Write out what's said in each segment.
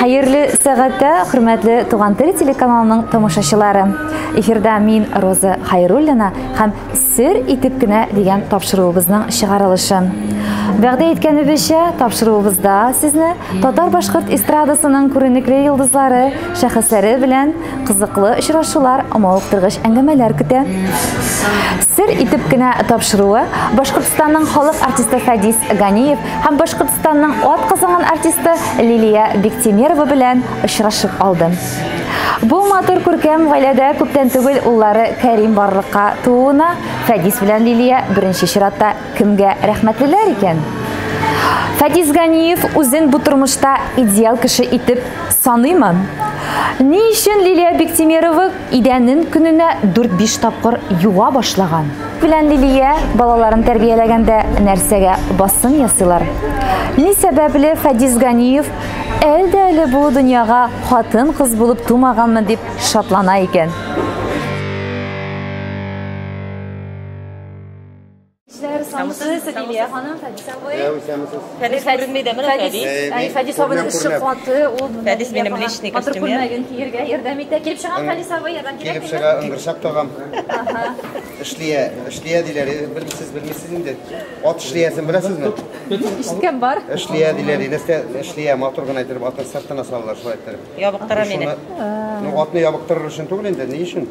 Хәерле сәгатә, хөрмәтле Туган тел телеканалының тамашачылары. Эфирда мин Роза Хайруллина һәм Сер итеп кенә дигән тапшыруыбызның чыгарылышы. Вәгъдә иткәнебезчә, тапшыруыбызда сезне татар-башкорт эстрадасының күренекле йолдызлары, шәхесләре белән кызыклы очрашулар, мавыктыргыч әңгәмәләр көтә. Сер итеп кенә тапшыруы Башкортстанның халык артисты Фәдис Ганиев һәм Башкортстанның ат казанган артисты Лилия Бектимерова белән очрашып алды. Бу матур күркәм гаиләдә күптән түгел уллары Кәрим барлыкка тууына Фәдис белән Лилия беренче чиратта кемгә рәхмәтлеләр икән? Фәдис Ганиев үзен бу тормышта идеал кеше итеп саныймы? Ни өчен Лилия Бектимерова Идәнен көненә 4-5 тапкыр юа башлаган. Белән Лилия балаларын тәрбияләгәндә нәрсәгә басым ясыйлар? Ни сәбәпле Фадис Ганиев әлдә әле бу дөньяга хатын-кыз булып тумаганмын дип шатлана икән? Кешеләр саусыз эссе диде, я ханым, Фәдис абый. Я үсәмсез. Фәдис күренми дә менә Фәдис. Әй, Фәдис абый эше каты, ул монда. Фәдис минем личный костюм. Матур күлмәген киергә ярдәм итә. Килеп чыгам Фәдис абый, ярдәм кирәк. Килеп чыга, ыңгырчак тагам. Ага. Эшлия, эшлия диләр, белмисез, белмисез инде. Ат эшлиясен беләсезме? Ишеткән бар. Эшлия диләр, нәрсә эшлия, матур гына итеп атны сыртына салалар, шулай итеп. Ябыктыра мине. Ну, атны ябыктырыр өчен түгел инде, ни өчен?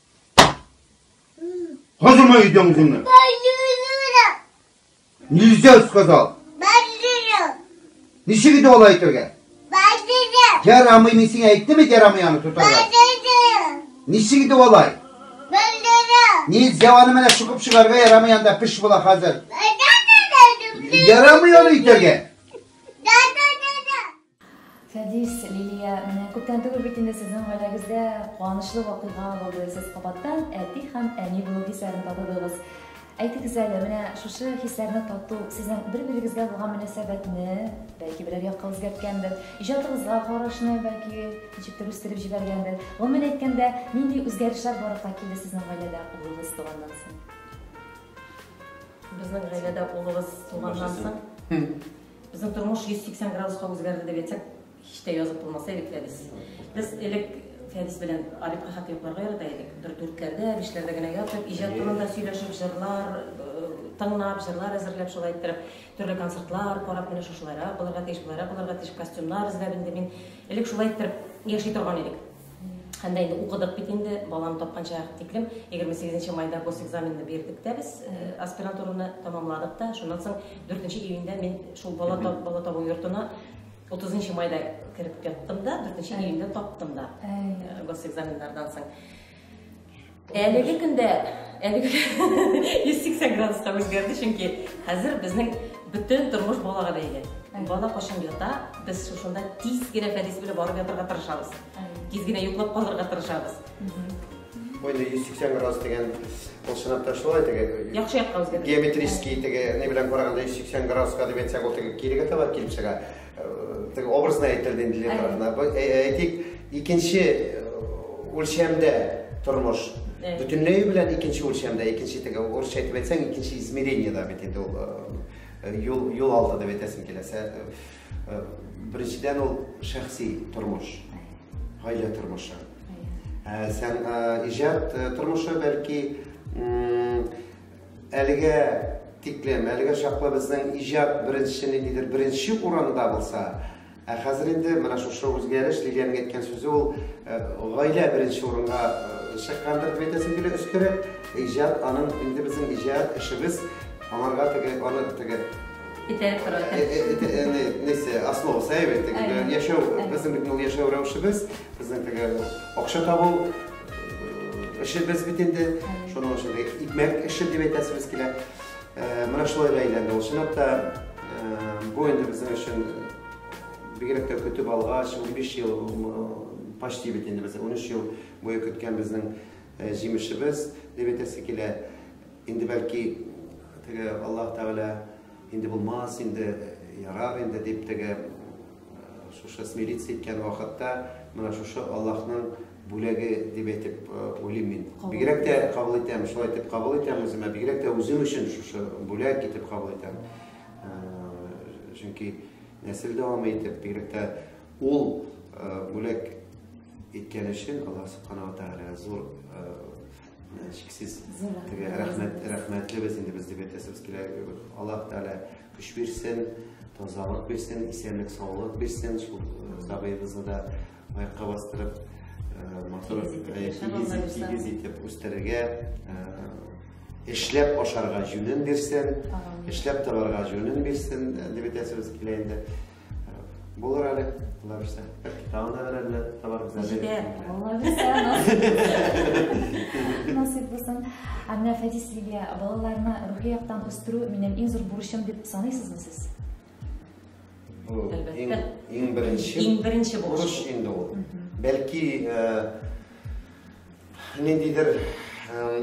Хожума идем гуны. Нельзя сказал. Ничек иде алай итергә? Ярамый мин сиңа әйттемме ярамый аны тотарга? Ничек иде алай? Нельзя аны менә чукып чыгарга ярамый анда пеш була хәзер. Ярамый аны итергә. Фәдис, Лилия, менә күптән түгел бит инде сезнең гаиләгездә куанычлы вакыйга булды. Сез кабаттан әти һәм әни булу хисләрен татыдыгыз. Әйтегез әле, менә шушы хисләрне тату сезнең бер-берегезгә булган мөнәсәбәтне, бәлки, берәр якка үзгәрткәндер, иҗатыгызга карашны, бәлки, ничектер үстереп җибәргәндер. Гомумән әйткәндә, нинди үзгәрешләр барлыкка килде сезнең гаиләдә улыгыз туганнан соң? Безнең гаиләдә улыбыз туганнан соң, Безнең тормыш 180 градуска үзгәрде дип әйтсәк, һич тә язып булмаса элек Фәдис. Без элек Фәдис белән Арифка хат йокларга ярата идек. Бер дүртләрдә, бишләрдә генә ятып, иҗат турында сөйләшеп, җырлар э, тыңлап, җырлар әзерләп, шулай иттереп, төрле концертлар карап, менә шушылайрак булырга тиеш, болайрак булырга тиеш, костюмнар эзләп инде мин элек шулай иттереп яши торган идек. һәм дә инде укыдык бит инде баланы тапканча тиклем егерме сигезенче майда госэкзаменны бирдек тә без аспирантураны тәмамладык та шуннан соң дүртенче июньдә мин шул бала бала табу йортына отызынчы майда кереп яттым да дүртенче июньдә таптым да госэкзаменнардан соң Әлеге көндә әлеге 180 градуска үзгәрде, чөнки хәзер безнең бөтен тормыш балага бәйле. Бала кашын ята, без шушында тиз генә Фәрис белән барып ятырга тырышабыз. Тиз генә йоклап калырга тырышабыз. Бу инде 180 градус дигән ул сынапта шулай теге. Яхшы якка үзгәрде. Геометрический теге ни белән караганда 180 градуска дип әйтсәк, ул теге кирегә таба килеп чыга. Теге образны әйттерде инде Лев Әйтик, икенче үлчәмдә тормыш бөтенләй белән икенче үлчәмдә, икенче теге урысча әйтеп әйтсәң, икенче измерение да бит инде ул юл юл алды дип әйтәсең килә. Беренчедән ул шәхси тормыш, гаилә тормышы. Сән иҗат тормышы бәлки Әлегә тиклем, әлегә чаклы безнең иҗат беренче ниндидер беренче урында булса, ә хәзер инде менә шушы үзгәреш Лилиянең әйткән сүзе ул э, гаилә беренче урынга э, чыккандыр дип әйтәсем килә өстәрәк. Иҗат аның инде безнең иҗат эшебез аңарга теге аны теге Итәреп тора. Нәрсә, основа сәйбе, яшәү, безнең бит ул яшәү рәвешебез, безнең теге акча табу, Эшебез бит инде, шуның өчен икмәк эше дип әйтәсебез килә. Э, менә шулай да әйләнде ул. Чынлап та, э, бу инде безнең өчен бигрәк тә көтеп алгач, 15 ел почти бит инде без 13 ел буе көткән безнең э, җимешебез дип әйтәсе килә. Инде бәлки теге Аллаһ Тәгалә инде булмас, инде ярар инде дип теге шушы смириться иткән вакытта менә шушы Аллаһның бүләге дип әйтеп уйлыйм мин. Бигрәк тә кабул итәм, шулай итеп кабул итәм үземә. Бигрәк тә үзем өчен шушы бүләк итеп кабул итәм. Чөнки нәсел дәвам итеп, бигрәк тә ул бүләк иткән өчен Аллаһ субханала тәгалә зур чиксез теге рәхмәт рәхмәтле без инде без дип әйтәсебез килә. Аллаһ тәгалә көч бирсен, тазалык бирсен, исәнлек, саулык бирсен, шул сабыйыбызны да Аякка бастырып, матур, тигез итеп үстерергә, эшләп ашарга җүнен бирсен, эшләп табарга җүнен бирсен, дип әйтәсебез килә инде. Булыр әле, алла бирсә. Тагын да берәрне табарбыз әле. Җитәр, алла бирсә. Насыйп булсын. Ә менә Фәдис Лилия, балаларны рухи яктан үстерү минем иң зур бурычым дип саныйсызмы сез? Әлбәттә. Иң беренче. Иң беренче бурыч инде ул. Бәлки ниндидер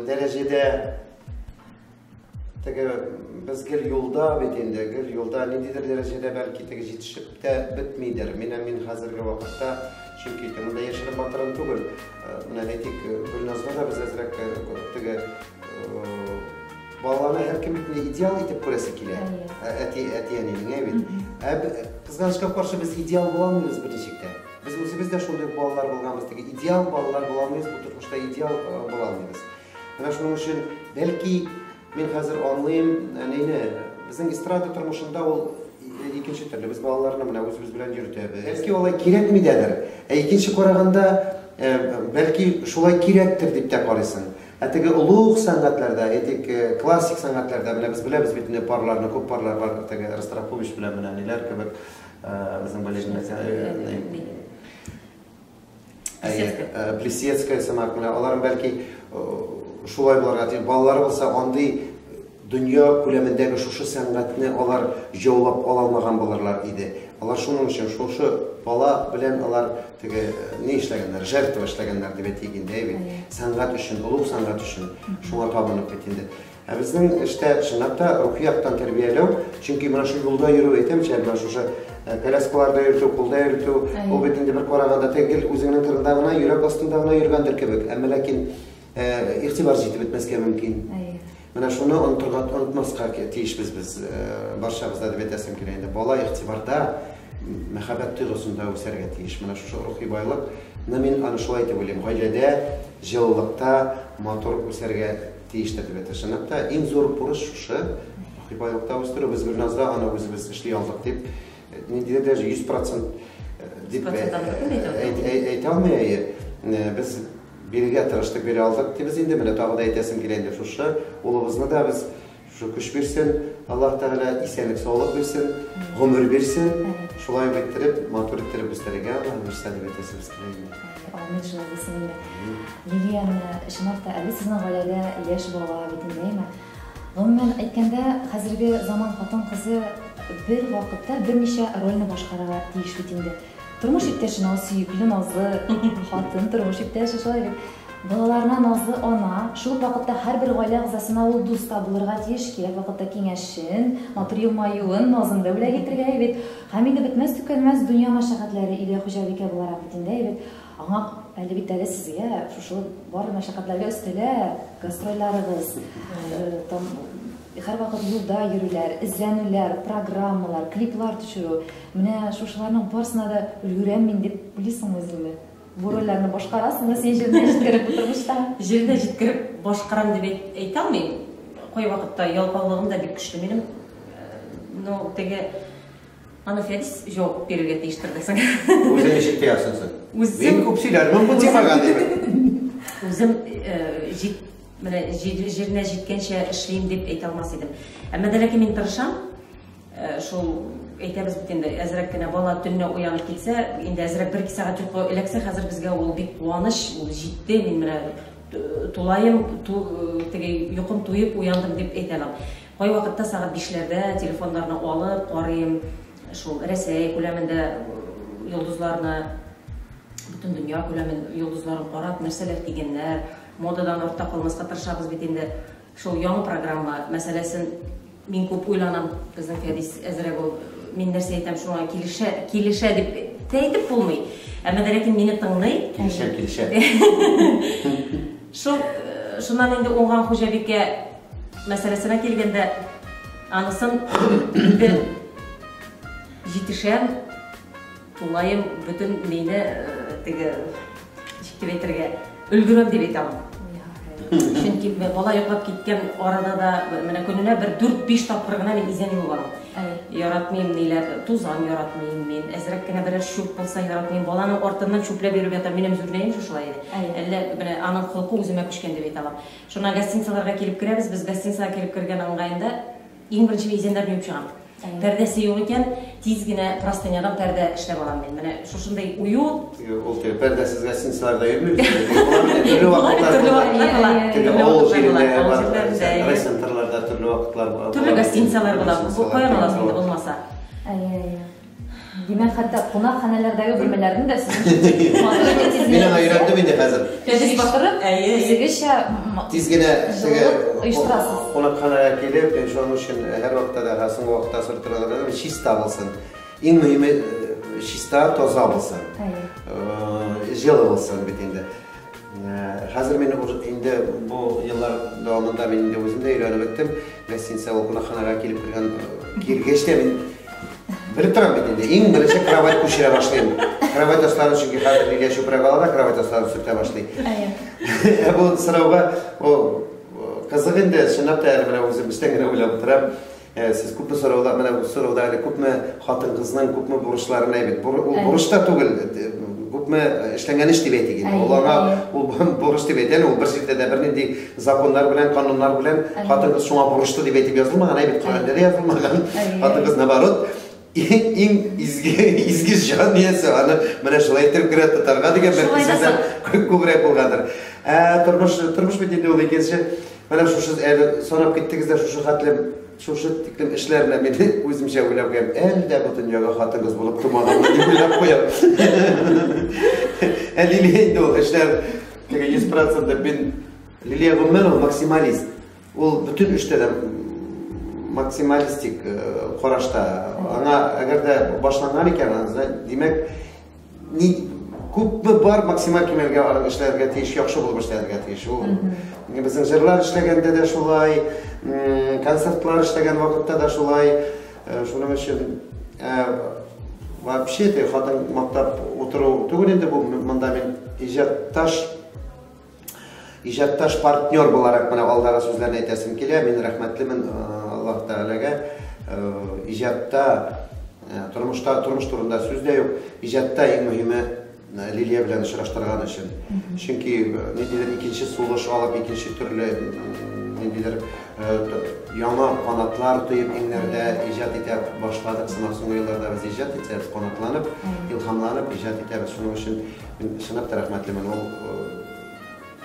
дәрәҗәдә теге без гел юлда бит инде, гел юлда ниндидер дәрәҗәдә бәлки теге җитешеп тә бетмидер. Менә мин хәзерге вакытта чөнки монда яшереп батырын түгел. Менә әйтик, Гөлназга да без әзрәк теге Балаларны һәркем бит инде идеал итеп күрәсе килә. Ә, әти, әти әни миңа бит. Ә кызганычка каршы без идеал була алмыйбыз берничек тә. Без үзебез дә шундый балалар булганбыз теге идеал балалар була алмыйбыз, бу тормышта идеал э, була алмыйбыз. Менә шуның өчен бәлки мин хәзер аңлыйм әнине. Безнең эстрада тормышында ул икенче төрле. Без балаларны менә үзебез белән йөртәбез. Бәлки алай кирәкми дәдер. Ә икенче караганда э, бәлки шулай кирәктер дип тә карыйсың. Ә теге олуг сәнгатьләрдә, әйтик, классик сәнгатьләрдә, менә без беләбез бит инде парларны, күп парлар бардыр, теге Ростропович белән менә ниләр кебек, безнең балетны Плесецкая сымак, менә алар бәлки шулай булырга тиеш. Балалары булса, андый Дөнья күләмендәге шушы сәнгатьне алар җаулап ала алмаган булырлар иде. Алар шуның өчен шушы бала белән алар теге ни эшләгәннәр, жертва эшләгәннәр дип әйтик инде, әй бит. Сәнгать өчен, олуг сәнгать өчен шуңа табынып бит инде. Ә безнең эштә чынлап та рухи яктан тәрбияләү, чөнки менә шул юлда йөрү, әйтәмче әле, менә шушы э, коляскаларда йөртү, кулда йөртү, ул бит инде бер караганда тегел үзеңнең кырында гына, йөрәк астында гына йөргәндер кебек. Әмма ләкин Игътибар җитеп бетмәскә мөмкин. Менә шуны онытырга, онытмаска тиешбез без. Барчабыз да дип әйтәсем килә инде. Бала игътибарда, мәхәббәт тойгысында үсәргә тиеш. Менә шушы рухи байлык, менә мин аны шулай дип уйлыйм. Гаиләдә, җылылыкта, матур үсәргә тиештер дип әйтә. Чынлап та, иң зур бурыч шушы. Рухи байлыкта үстерү. Без Гөлназда аны үзебез эшли алдык дип, ниндидер даже 100% дип әйтә алмый әйе. Без Бирергә тырыштык, бирә алдык дибез инде. Менә тагы да әйтәсем килә инде шушы. Улыбызны да без шушы көч бирсен, Аллаһ Тәгалә исәнлек-саулык бирсен, гомер бирсен. Шулай ук иттереп, матур иттереп үстерергә Аллаһы бирсә дип әйтәсебез килә инде. Амин, шулай булсын инде. Лилияне, чынлап та, әле сезнең гаиләдә яшь бала бит инде, әйме? Гомумән әйткәндә, хәзерге заман хатын-кызы бер вакытта берничә рольне башкарырга тиеш бит инде. Тормыш иптәше наз, сөекле назлы хатын, тормыш иптәше шулай бит. Балаларына назлы ана, шул ук вакытта һәрбер гаилә әгъзасына ул дус та булырга тиеш, кирәк вакытта киңәшен, матур елмаюын, назын да бүләк итергә, әйбит. Һәм инде бетмәс-төкәнмәс дөнья мәшәкатьләре өйдә хуҗабикә буларак бит инде, әйбит. Аңа әле бит әле сезгә шушы барлык мәшәкатьләргә өстәлә гастрольләрегез, һәрвакыт юлда йөрүләр, эзләнүләр, программалар, клиплар төшерү. Менә шушыларның барысына да өлгерәм мин дип уйлыйсың үзеңне. Бу рольләрне башкарасыңмы син җиренә җиткереп бу тормышта? Җиренә җиткереп башкарам дип әйтә алмыйм. Кайвакытта ялкаулыгым да бик көчле минем. Ну, теге Аны Фәдис җавап бирергә тиештер дә соң. Үзең ничек тоясың соң? Үзем... Мин күп сөйләрмен бу темага, дип. Үзем җит менә җиренә җиткәнчә эшлим дип әйтә алмас идем. Әмма дә ләкин мин тырышам. Шул әйтәбез бит инде, әзрәк кенә бала төнне уянып китсә, инде әзрәк бер-ике сәгать йоклы эләксә, хәзер безгә ул бик куаныч, ул җитте, мин менә тулаем, теге йокым туеп уяндым дип әйтә алам. Кайвакытта сәгать бишләрдә телефоннарны алып карыйм, шул Рәсәй күләмендә йолдызларны, бөтен дөнья күләмен йолдызларын карап, нәрсәләр кигәннәр, модадан артта калмаска тырышабыз бит инде. Шул яңа программа мәсьәләсен мин күп уйланам, безнең Фәдис әзрәк ул, мин нәрсә әйтәм, шуңа килешә, килешә дип тә әйтеп булмый. Әмма дә ләкин мине тыңлый. Килешә, килешә. Шул, э, шуннан инде уңган хуҗабикә Мәсьәләсенә килгәндә, анысын инде җитешәм, тулаем бөтен мейне э, теге ничек дип әйтергә өлгерәм дип әйтә алмыйм. Чөнки бала йоклап киткән арада да менә көненә бер 4-5 тапкыр гына мин изән юып алам. Яратмыйм ниләр, тузан яратмыйм мин. Әзрәк кенә берәр чүп булса яратмыйм. Баланың артыннан чүпләп йөреп ятам. Минем зурләем шушылай иде. Әллә менә аның холкы үземә күчкән дип әйтә алам. Шуннан гостиницаларга килеп керәбез, без гостиницага килеп кергән ыңгаенда иң беренче мин изәннәрне юып чыгам. Пәрдәсе юк икән, тиз генә простынядан пәрдә эшләп алам мин. Менә шушындый уют. Ул тел пәрдәсез гостиницаларда йөрмибез. Төрле вакытлар була. Теге авыл җирендә бар, райцентрларда төрле вакытлар була. Төрле гостиницалар була. Бу каян аласың инде булмаса? Әйе, әйе. Димәк, хәтта кунакханәләрдәге бүлмәләрне дә сез Мин аңа өйрәндем инде хәзер. Тәҗрибә башкарып, үзегезчә тиз генә оештырасыз. Кунакханәгә килеп, мин шуның өчен һәр вакытта да һәм соңгы вакытта сорап торган чиста булсын. Иң мөһиме чиста, таза булсын. Җылы булсын бит инде. Хәзер мин инде бу еллар дәвамында мин инде үзем дә өйрәнеп беттем. Гостиница ул кунакханага килеп кергән килгәч тә мин белеп торам бит инде. Иң беренче кровать күчерә башлыйм. Кровать остары чөнки хәзер нигә чүпрәк ала да кровать остарын сүтә башлый. Ә бу сорауга ул кызык инде, чынлап та әле менә үзем өстән генә уйлап утырам. Сез күпме сорауда, менә бу сорауда әле күпме хатын-кызның күпме бурычларын әйбит. Бур, ул бурыч та түгел, күпме эшләнгән эш дип әйтик инде. Ул аңа ул бурыч дип әйтә, ул бер җирдә дә бернинди законнар белән, кануннар белән хатын-кыз шуңа бурычлы дип әйтеп язылмаган, әйбит Коръәндә дә язылмаган. Хатын-кыз наоборот, Иң изге, изге җан иясе, аны менә шулай итеп керә тотарга дигән бер сүзләр күбрәк булгандыр. Ә тормыш, тормыш бит инде ул икенче. Менә шушы әле санап киттегез дә шушы хәтле шушы тиклем эшләрне мин үземчә уйлап кем әле дә бу дөньяга хатынгыз булып тумадым дип уйлап куям ә лилия инде ул эшләр теге йөз процентов мин лилия гомумән ул максималист Ул бөтен эштә дә максималистик э, карашта. Аңа әгәр дә башланган икән, димәк, ни күпме бар максималь кимәлгә алып эшләргә тиеш, яхшы булып эшләргә тиеш. Ул безнең җырлар эшләгәндә дә шулай, концертлар эшләгән вакытта да шулай. Э, шуның өчен э, вообще те хатын мактап утыру түгел инде бу монда мин иҗатташ Иҗатташ партнер буларак менә алдагы сүзләрне әйтәсем килә. Мин рәхмәтлемен э, Аллаһ Тәгаләгә. Э, иҗатта, э, тормышта, тормыш турында сүз дә юк. Иҗатта иң мөһиме Лилия белән очраштырган өчен. Чөнки ниндидер икенче сулыш алып, икенче төрле ниндидер яңа канатлар тоеп иңнәрдә иҗат итә башладык. Сынак соңгы елларда без иҗат итәбез, канатланып, илһамланып иҗат итәбез. Шуның өчен Мин чынлап та рәхмәтлемен. Ул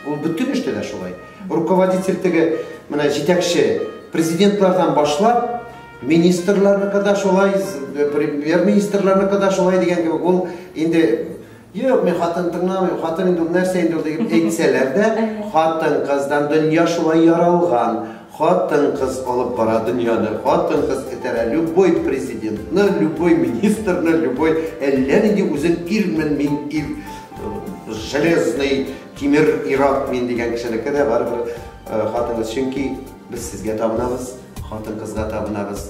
ул бөтен эштә дә шулай. Руководитель теге менә җитәкче президентлардан башлап министрларны када шулай, э, премьер-министрларны када шулай дигән кебек ул инде Юк, мин хатын тыңламыйм, хатын инде нәрсә инде ул дип әйтсәләр дә, хатын-кыздан дөнья шулай яралган. Хатын-кыз алып бара дөньяны, хатын-кыз этәрә любой президентны, любой министрны, любой әллә нинди үзен ирмен мин ир, железный тимер ир-ат мин дигән кешенеке дә барыбер хатын-кыз, чөнки без сезгә табынабыз, хатын-кызга табынабыз.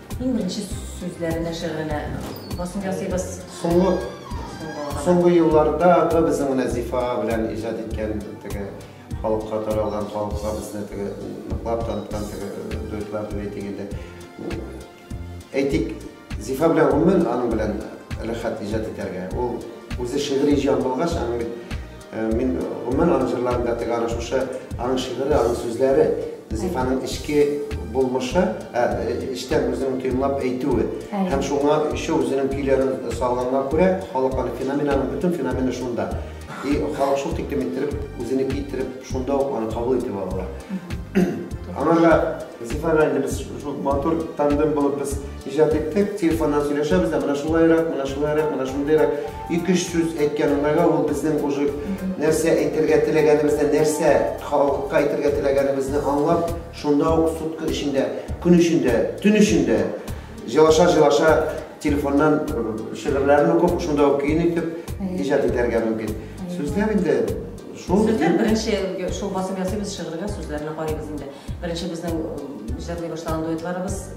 Иң беренче сүзләре нәшер генә басым ясыйбыз. Соңгы соңгы елларда да безнең менә Зифа белән иҗат иткән теге халыкка таралган, халыкка безне теге ныклап таныткан теге э, дуэтлар дип әйтик инде. Әйтик, Зифа белән гомумән аның белән рәхәт иҗат итәргә. Ул үзе шигъри җан булгач, аның бит Мин гомумән аның җырларын да тегә шушы аның шигыре, аның сүзләре, Зифаның эчке булмышы, ә, эчтән үзенең тоемлап әйтүе. Һәм шуңа еще үзенең көйләрен салганга күрә, халык аны феноменаның бөтен феномены шунда. И халык шул тиклем иттереп, үзене китереп, шунда ук аны кабул итеп алалар. Аңа да Зифага инде без шул матур тандем булып без иҗат иттек, телефоннан сөйләшәбез дә, менә шулайрак, менә шулайрак, менә шундыйрак. Ике-өч сүз әйткән урынга ул безнең уже нәрсә әйтергә теләгәнебезне, нәрсә халыкка әйтергә теләгәнебезне аңлап, шунда ук сутка эчендә, көн эчендә, төн эчендә җылаша-җылаша телефоннан шигырьләрен укып, шунда ук көен итеп иҗат итәргә мөмкин. Сүзләр инде шул. Сүзләр беренче шул басып ясыйбыз шигырьгә, сүзләренә карыйбыз инде. Беренче безнең җырлый башлаган дуэтларыбыз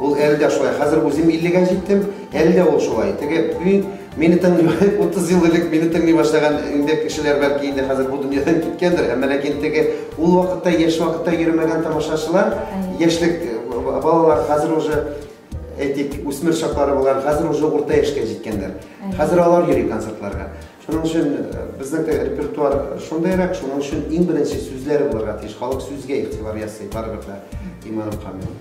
Ул әле дә шулай. Хәзер үзем 50-гә җиттем, әле дә ул шулай. Теге мин мине тыңлый 30 ел элек мине тыңлый башлаган инде кешеләр бәлки инде хәзер бу дөньядан киткәндер, әмма ләкин теге ул вакытта яшь вакытта йөрмәгән тамашачылар, яшьлек балалар хәзер уже әйтик, үсмер чаклары булган, хәзер уже урта яшькә җиткәннәр. Хәзер алар йөри концертларга. Шуның өчен безнеке репертуар шундайрак, шуның өчен иң беренче сүзләр булырга тиеш. Халык сүзгә игътибар ясый, барыбер дә иманым камил.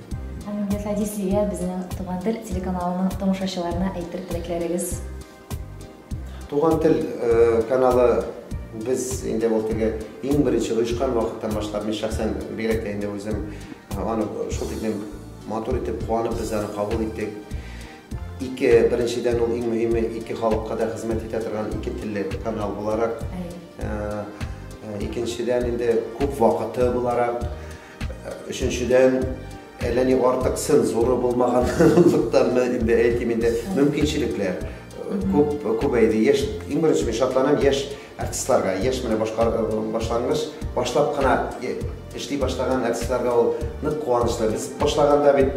Һәм инде Фәди сезгә безнең Туган тел телеканалының тамашачыларына әйтер теләкләрегез? Туган тел каналы без инде ул теге иң беренче оешкан вакыттан башлап, мин шәхсән бигрәк тә инде үзем аны шул тиклем матур итеп, куанып без аны кабул иттек. Ике, беренчедән ул иң мөһиме, ике халыкка да хезмәт итә торган ике телле канал буларак. Икенчедән инде күп вакыты буларак. Өченчедән әллә ни артык цензура булмаганлыктанмы инде әйтим инде мөмкинчелекләр күп күбәйде. Яшь иң беренче мин шатланам яшь артистларга, яшь менә башлангыч башлап кына эшли башлаган артистларга ул нык куанычлы. Без башлаганда бит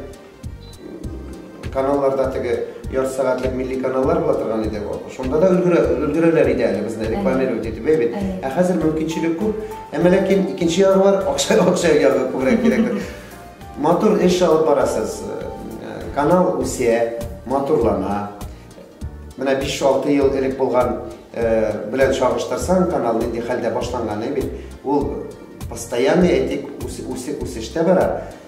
Каналларда теге яр сәгатьлек милли каналлар була торган иде. Шунда да өлгерә, өлгерәләр иде әле безне рекламировать итеп, әйбит. Ә хәзер мөмкинчелек күп. Әмма ләкин икенче ягы бар, акча акча ягы күбрәк кирәк. Матур эш алып барасыз. Канал үсә, матурлана. Менә 5-6 ел элек булган белән чагыштырсаң, канал нинди хәлдә башланган, әйбит. Ул постоянный әйтик үсештә бара.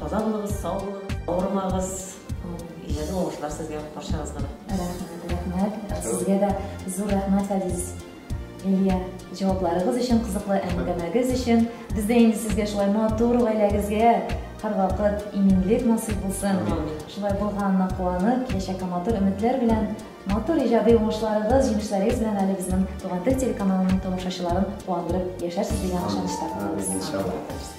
Таза булыгыз, сау булыгыз, авырмагыз. Иҗади уңышлар сезгә, барчагызга да. Рәхмәт, рәхмәт. Сезгә дә зур рәхмәт, Фәдис. Лилия, җавапларыгыз өчен, кызыклы әңгәмәгез өчен. Без дә инде сезгә шулай матур гаиләгезгә һәрвакыт иминлек насыйп булсын. Шулай булганына куанып, киләчәккә матур өметләр белән, матур иҗади уңышларыгыз, җиңешләрегез белән әле безнең Туган тел телеканалының тамашачыларын куандырып яшәрсез дигән ышанычта калабыз.